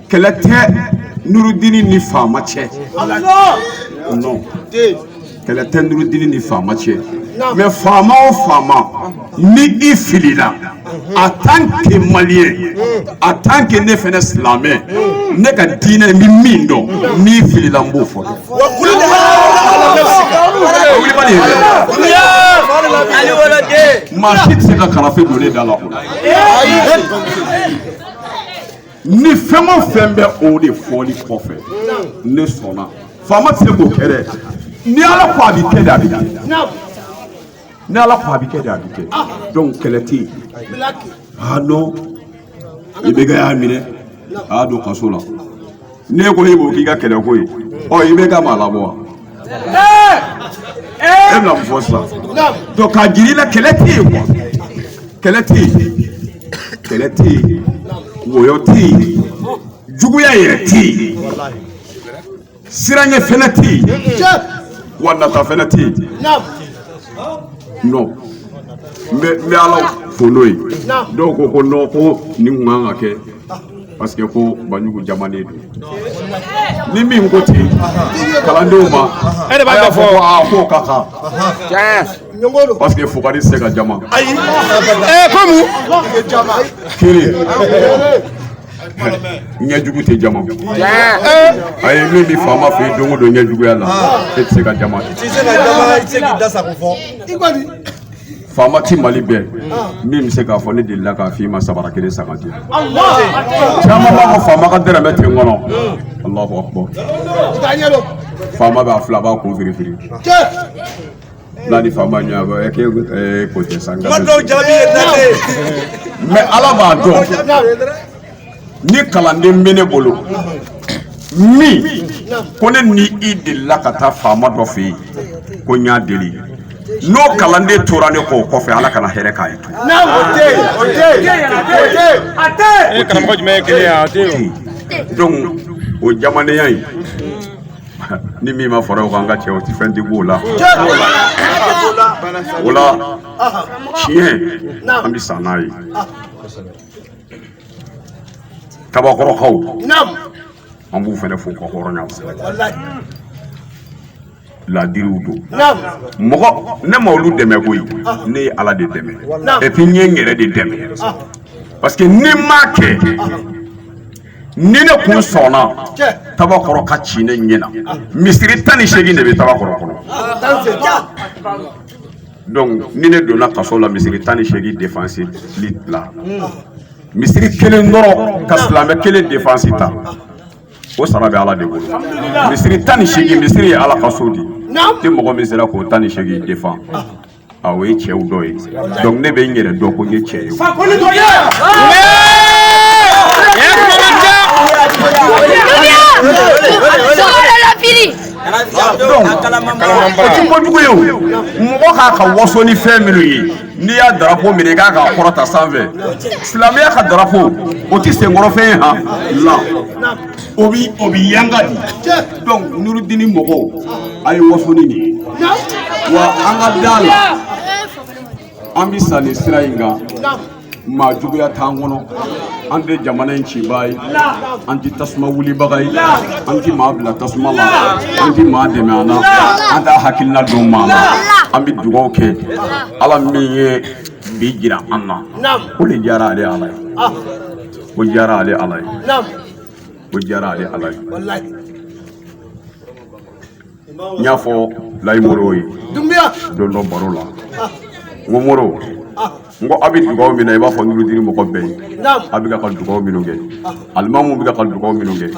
kɛlɛ tɛ nurudini ni faama cɛ non kɛlɛ tɛ nurudini ni faama cɛ mɛ faama o faama ni i filila en tant que malien en tant que ne fɛnɛ silamɛ ne ka diinɛ n bɛ min dɔn n'i filila n b'o fɔ maa si tɛ se ka karafe don ne da la o la ni fɛn o fɛn bɛ o de fɔli kɔfɛ ne sɔnna faama tɛ se k'o kɛ dɛ ni ala ko a bɛ kɛ de a bɛ kɛ ni ala ko a bɛ kɛ de a bɛ kɛ donc kɛlɛ tɛ yen ah non i bɛ ka y'a minɛ a y'a don kaso la n'e ko e b'o k'i ka kɛlɛ ko ye ɔ i bɛ ka maa labɔ wa. e bɛna fɔ sisan donc ka jiri la kɛlɛ tɛ yen quoi kɛlɛ tɛ yen kɛlɛ tɛ yen wɔyɔ tɛ yen juguya yɛrɛ tɛ yen siranya fana tɛ yen wa nata fana tɛ yen non n bɛ n bɛ ala fo n'o ye dɔw ko ko non ko nin kun kan ka kɛ. parce que ko banjugu jamanen don ni min ko ten kalandenw ma e de b'a y'a fɔ aa k'o ka kan parce que fugari tɛ se ka jama ayi komu kelen ɲɛjugu tɛ jama a ye min bɛ faama fɛ yen don o don ɲɛjuguya la e tɛ se ka jama kɛ. Faama tɛ Mali bɛɛ min bɛ se k'a fɔ ne delila k'a fɔ i ma sabara kelen san ka di yan, caman b'a fɔ faama ka dɔrɔmɛ tɛ n kɔnɔ, Alahu akibaru, faama b'a fila b'a kun firifiri, n'a ni faama ɲɛ bɛ ɛ k'e ɛ ko tɛ sa, mais Ala b'a dɔn ni kalanden bɛ ne bolo min kɔni ni i delila ka taa faama dɔ fɛ yen ko n y'a deli n'o kalanden tora ne kɔ kɔfɛ ala kana hɛrɛ k'a ye tun. o tɛ yen o tɛ yen o tɛ yen a tɛ yen. e karamɔgɔ jumɛn ye kelen ye a tɛ yen. donc o jamanenya in ni min ma fara o kan an ka cɛ o tɛ fɛn tɛ b'o la. o la tiɲɛ an bɛ sa n'a ye. tabakɔrɔkaw an b'u fana fo ka hɔrɔnya cɛ ladiriw don mɔgɔ ne ma olu dɛmɛ koyi ah. ne ye ala de dɛmɛ et puis n ye n yɛrɛ de dɛmɛ ah. parce que ni n m'a kɛ ah. ni ne kun sɔnna tabakɔrɔ ka ci ne ɲɛ na misiri tan ni seegin de bɛ tabakɔrɔ kɔnɔ donc ni ne donna kaso la misiri tan ni seegin defansili la misiri kelen dɔrɔn ka silamɛ kelen defansi ta o sara bɛ ala de bolo misiri tan ni seegin misiri ye ala ka so de ye ni mɔgɔ min sera k'o tan ni seegin defan a o ye cɛw dɔ ye donc ne bɛ n yɛrɛ dɔn ko n ye cɛ ye Sogo de la fili kojugu ye mɔgɔ ka kan ka waso ni fɛn minnu ye n'i y'a darapo minɛ ka kan k'a kɔrɔta sanfɛ silamɛya ka darapo o tɛ senkɔrɔfɛn ye han la o bɛ o bɛ yanga di donc nurudini mɔgɔw a ye waso ni nin ye wa an ka d'a la an bɛ sa nin sira in kan maa juguya t'an kɔnɔ an tɛ jamana in cibaa ye an tɛ tasuma wulibaga ye an tɛ maa bila tasuma la an tɛ maa dɛmɛ a na an t'a hakilina don maa na an bɛ dugawu kɛ ala min ye bi jira an na o de diyara ale ala ye o diyara ale ala ye o diyara ale ala ye n y'a fɔ layi moro ye dunbiya don dɔ baro la n ko moro n ko a bɛ dugaw min na i b'a fɔ nurudini mɔgɔ bɛɛ ye a bɛ ka dugaw minnu kɛ alimamu bɛ ka dugaw minnu kɛ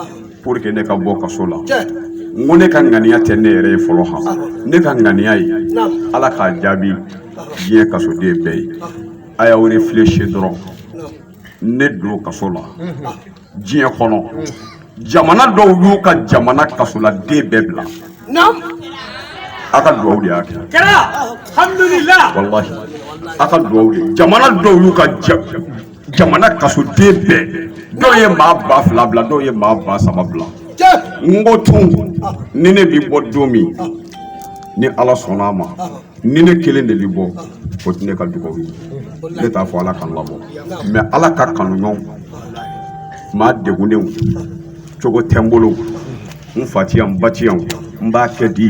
pour que ne ka bɔ kaso la n ko ne ka ŋaniya tɛ ne yɛrɛ ye fɔlɔ ha ne ka ŋaniya ye ala k'a jaabi diɲɛ kasoden bɛɛ ye a y'aw réfléchir dɔrɔn ne don kaso la diɲɛ kɔnɔ jamana dɔw y'u ka jamana kasoladen bɛɛ bila a ka dugawu de y'a kɛ walahi a ka dugawu de jamana dɔw y'u ka jamana kasoden bɛɛ dɔw ye maa ba fila bila dɔw ye maa ba saba bila n ko tun ni ne bi bɔ don min ni ala sɔnna a ma ni ne kelen de bɛ bɔ o tɛ ne ka dugawu ye ne t'a fɔ ala ka n labɔ mɛ ala ka kanu ɲɔgɔn maa degunnenw cogo tɛ n bolo n fa ti yan n ba ti yan n b'a kɛ di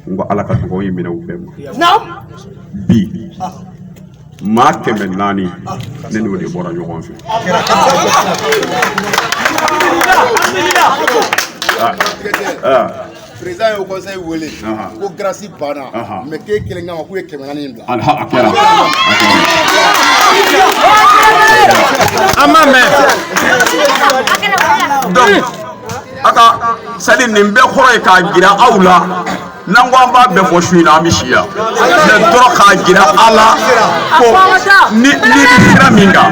n ko ala ka dugawu ye minɛ u bɛɛ ma bi maa kɛmɛ naani ne n'o de bɔra ɲɔgɔn fɛ président y'o conseil wele ko grâce banna mais k'e kelen kama k'u ye kɛmɛ naani in bila a kɛra an ma mɛn donc a ka sadi nin bɛɛ kɔrɔ ye k'a jira aw la n'an ko an b'a bɛɛ fɔ su in na an bɛ si yan mɛ dɔrɔn k'a jira aw la ko ni i bɛ sira min kan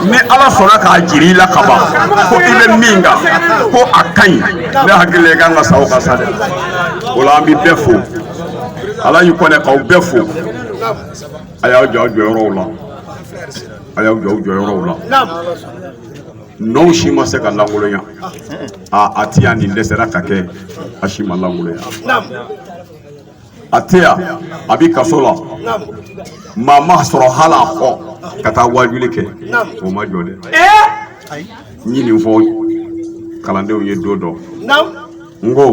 ni ala sɔnna k'a jira i la ka ban ko i bɛ min kan ko a ka ɲi ne hakili la i kan ka sa o kan sa dɛ o la an bɛ bɛɛ fo ala y'i kɔnɛ k'aw bɛɛ fo a y'aw jɔ aw jɔyɔrɔw la a y'aw jɔ aw jɔyɔrɔw la n'o si ma se ka lankolonya aa a ti yan nin dɛsɛra ka kɛ a si ma lankolonya a tɛ yan a bɛ kaso la maa ma sɔrɔ hali a kɔ ka taa waajuli kɛ o ma jɔ dɛ n ye nin fɔ kalandenw ye don dɔ n ko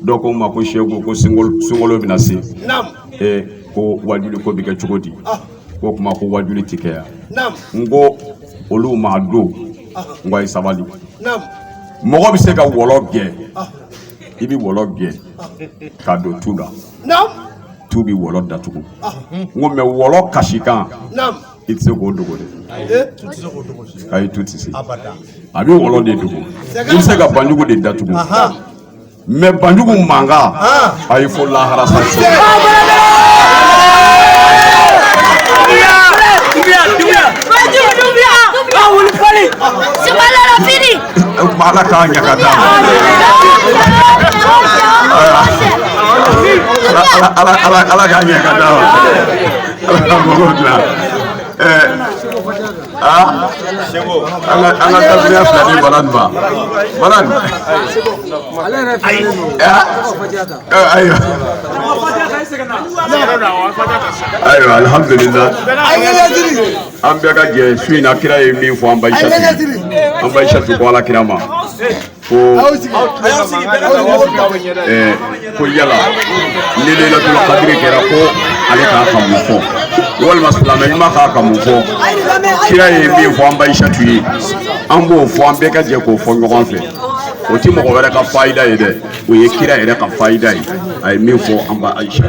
dɔ ko n ma ko seku ko sunkalo bɛna se ee ko waajuli ko bɛ kɛ cogo di ko kuma ko waajuli ti kɛ yan n ko olu m'a dɔn n ko i sabali mɔgɔ bɛ se ka wɔlɔ gɛn i bɛ wɔlɔ gɛn ka don tu la tu bɛ wɔlɔ datugu n ko mɛ wɔlɔ kasikan i tɛ se k'o dogo dɛ ayi tu tɛ se a bɛ wɔlɔ de dogo i bɛ se ka banjugu de datugu mɛ banjugu mankan a ye fo lahara sa ala k'a ɲaga d'a ma ala k'a ɲaga d'a ma ala k'a mago dilan an ka tafiya fila di balan ma balan ayiwa ayiwa alhamdulillah an bɛɛ ka jɛ su in na kira ye min fɔ an ba ayisatu an ba ayisatu ko ala kira ma ko ko yala ni lelatul kadiri kɛra ko ale ka kan ka mun fɔ walima silamɛ ɲuman ka kan ka mun fɔ kira ye min fɔ an ba ayisatu ye an b'o fɔ an bɛɛ ka jɛ k'o fɔ ɲɔgɔn fɛ o ti mɔgɔ wɛrɛ ka fayida ye dɛ o ye kira yɛrɛ ka fayida ye a ye min fɔ an ba ayisa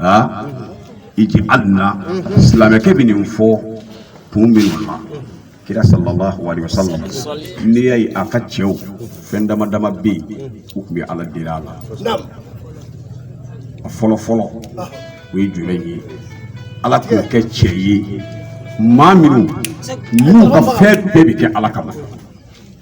aa ij'alna silamɛkɛ bɛ nin fɔ kun min na kira sallallahu alaihi wasallam n'i y'a ye a ka cɛw fɛn dama dama bɛ yen u tun bɛ ala deli a la a fɔlɔ fɔlɔ o ye jumɛn ye ala k'an kɛ cɛ ye maa minnu n'u ka fɛn bɛɛ bɛ kɛ ala kama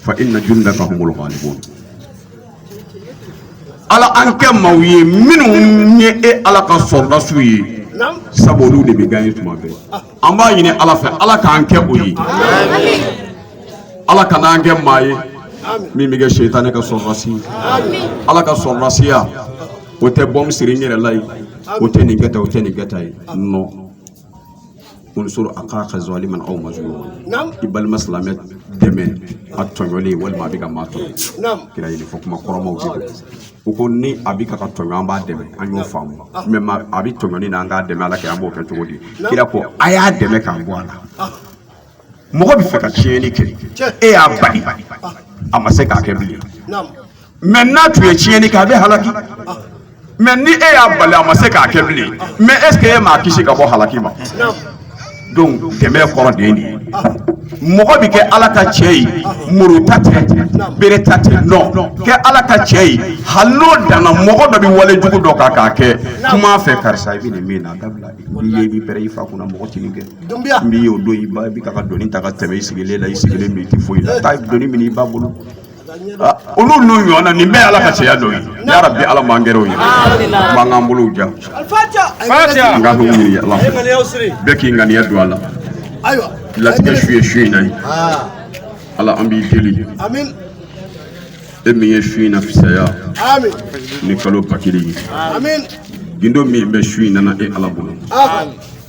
fa inna jundaka humul galibun ala an kɛ maaw ye minnu ye e ala ka sɔrɔdasiw ye sabu olu de bɛ gaɲe tuma bɛɛ an b'a ɲini ala fɛ ala k'an kɛ o ye ala kan'an kɛ maa ye min bɛ kɛ setanɛ ka sɔrɔdasi ye ala ka sɔrɔdasiya o tɛ bɔ misiri n yɛrɛ la ye o tɛ nin kɛta o tɛ nin kɛta ye nɔn unsur akhaka zaliman aw mazluman i balima silamɛ dɛmɛ a tɔɲɔlen walima a bɛ ka maa tɔɲɔ kira ye nin fɔ kuma kɔrɔmaw de don u ko ni a bɛ ka tɔɲɔ an b'a dɛmɛ an y'o faamu mɛ a bɛ tɔɲɔni na an k'a dɛmɛ ala kira an b'o kɛ cogo di kira ko a y'a dɛmɛ k'a bɔ a la mɔgɔ bɛ fɛ ka tiɲɛni kɛ e y'a bali a ma se k'a kɛ bilen mɛ n'a tun ye tiɲɛni kɛ a bɛ halaki mɛ ni e y'a bali a ma se k'a kɛ bilen mɛ est ce que e m'a kisi ka bɔ halaki ma donc dɛmɛ kɔrɔ de ye nin ye mɔgɔ bɛ kɛ ala ta cɛ ye muru ta tɛ bere ta tɛ nɔn kɛ ala ta cɛ ye hali n'o danna mɔgɔ dɔ bɛ wale jugu dɔ kan k'a kɛ kuma a fɛ karisa i bɛ nin min na dabila i ye i b'i pɛrɛn i fa kunna mɔgɔ tɛ nin kɛ Donbiya min y'o don i ba i bɛ ka doni ta ka tɛmɛ i sigilen la i sigilen don i tɛ foyi la taa doni minɛ i ba bolo olu n'u ɲɔgɔnna nin bɛɛ ala ka cɛya dɔ ye ne yɛrɛ bi ala man gɛrɛw ye b'an k'an bolo ja an ka bɛ ɲini ala bɛɛ k'i ŋaniya don a la latigɛ su ye su in na ye ala an b'i deli e min ye su in na fisaya ni kalo ba kelen ye gundo min bɛ su in na e ala bolo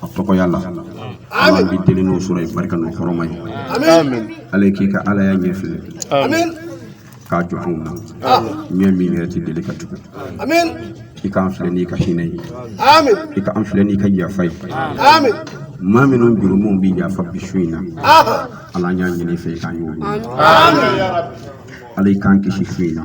a tɔgɔya la an b'i deli n'o sura ye barika n'o hɔrɔma ye ala k'i ka alaya ɲɛ filɛ k'a jɔ anw na ɲɛ min yɛrɛ ti deli ka tugu i k'an filɛ n'i ka hinɛ ye i ka an filɛ n'i ka yafa ye maa minnu jurumu bi yafa bi su in na ala an y'a ɲini i fɛ i k'an y'o ye ala i k'an kisi su in na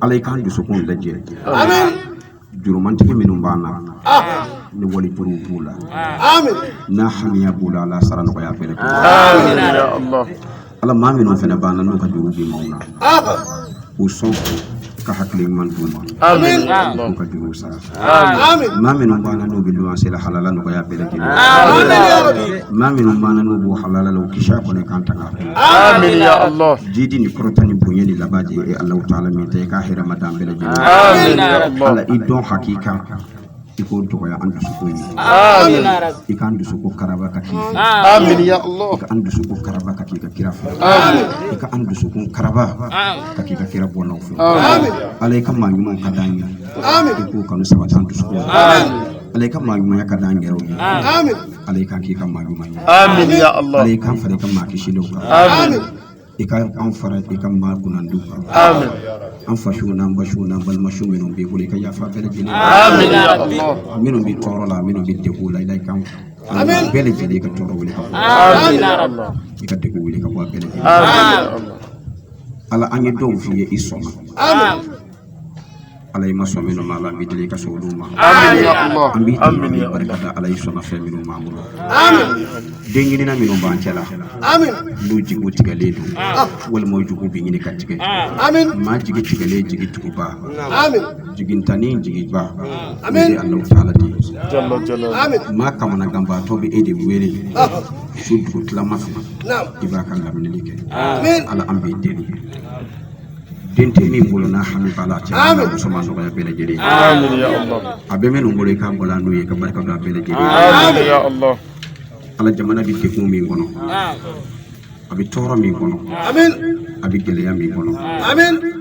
ala i k'an dusukun lajɛ jurumantigi minnu b'an na ni wali juruw b'u la n'a hamiya b'u la ala sara nɔgɔya fɛnɛ ala maa minnu fɛnɛ b'an na n'u ka juru bi maaw na u sɔn ka hakili ɲuman d'u ma u ka juruw sara maa minnu b'an na n'u bɛ luwanse la halala nɔgɔya bɛɛ lajɛlen maa minnu b'an na n'u b'u halala la u kisi a kɔnɔ k'an tanga jidi ni kɔrɔta ni bonya ni laban de ye Alahu taala min ta i ka hɛrɛ ma d'an bɛɛ lajɛlen Ala i dɔn hakika i k'o nɔgɔya an dusukun ye i k'an dusukun karaba ka k'i fɛ i ka an dusukun karaba ka k'i ka kira fɛ i ka an dusukun karaba ka k'i ka kira bɔnnaw fɛ Ala i ka maa ɲumanw ka d'an ye k'u kanu sabati an dusu kɔnɔ ala i ka maa ɲumanya ka d'an yɛrɛw ye ala i k'an k'i ka maa ɲuman ye ala i k'an fara i ka maa kisilenw kan i ka an fara i ka maa kunnandiw kan an fasiw n'an basiw n'an balimasiw minnu b'i bolo i ka yafa bɛɛ lajɛlen minnu bɛ tɔɔrɔ la minnu bɛ degun la ala i k'an bɛɛ lajɛlen i ka tɔɔrɔ wuli ka bɔ i ka degun wuli ka bɔ a bɛɛ lajɛlen ala an ye dɔw f'i ye i sɔnna ala i ma sɔn minnu ma an b'i deli ka sɔn olu ma barika ala i sɔnna fɛn minnu b'an bolo den ɲinina minnu b'an cɛ la n'u jigi tigɛlen don walima u jigi bɛ ɲini ka tigɛ maa jigi tigɛlen jigi tuguba jigintanni jigiba ala taala de ye maa kamana ganbaatɔ bɛ e de wele su dugu tilama fɛ i b'a kan laminɛli kɛ ala an b'i deli den tɛ min bolo n'a hami b'a la cɛ wala muso ma nɔgɔya bɛɛ lajɛlen a bɛ minnu bolo i k'a balo n'u ye ka barika don a bɛɛ lajɛlen ala jamana bɛ degun min kɔnɔ a bɛ tɔɔrɔ min kɔnɔ a bɛ gɛlɛya min kɔnɔ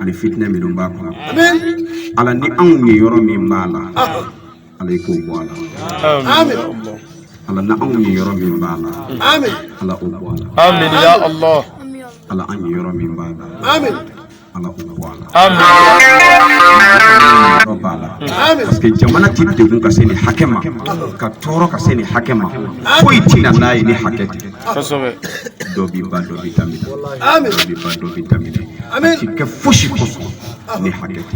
ani fitinɛ minnu b'a kɔnɔ ala ni anw niyɔrɔ min b'a la Ala k'o bɔ a la ala anw niyɔrɔ min b'a la ala k'o bɔ a la ala an niyɔrɔ min b'a la ala k'o bɔ a la b'a la parce que jamana ti degun ka se nin hakɛ ma ka tɔɔrɔ ka se nin hakɛ ma foyi ti na n'a ye ni hakɛ tɛ dɔ bi ban dɔ bi daminɛ dɔ bi ban dɔ bi daminɛ a ti kɛ fosi kosɔn ni hakɛ tɛ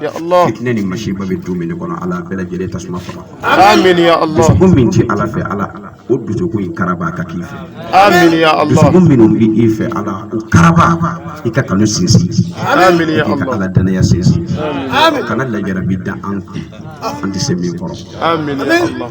Ya Allah. Ne ni masiba bɛ du minnu kɔnɔ ala bɛɛ lajɛlen tasuma faga. Amin ya Allah. Dusukun min tɛ ala fɛ ala o dusukun in karaba ka k'i fɛ. Amin ya Allah. Dusukun minnu bɛ i fɛ ala o karaba i ka kanu sinsin. Amin ya Allah. I ka ala danaya sinsin. Amin. Kana lajarabi da an kun an tɛ se min kɔrɔ. Amin ya Allah.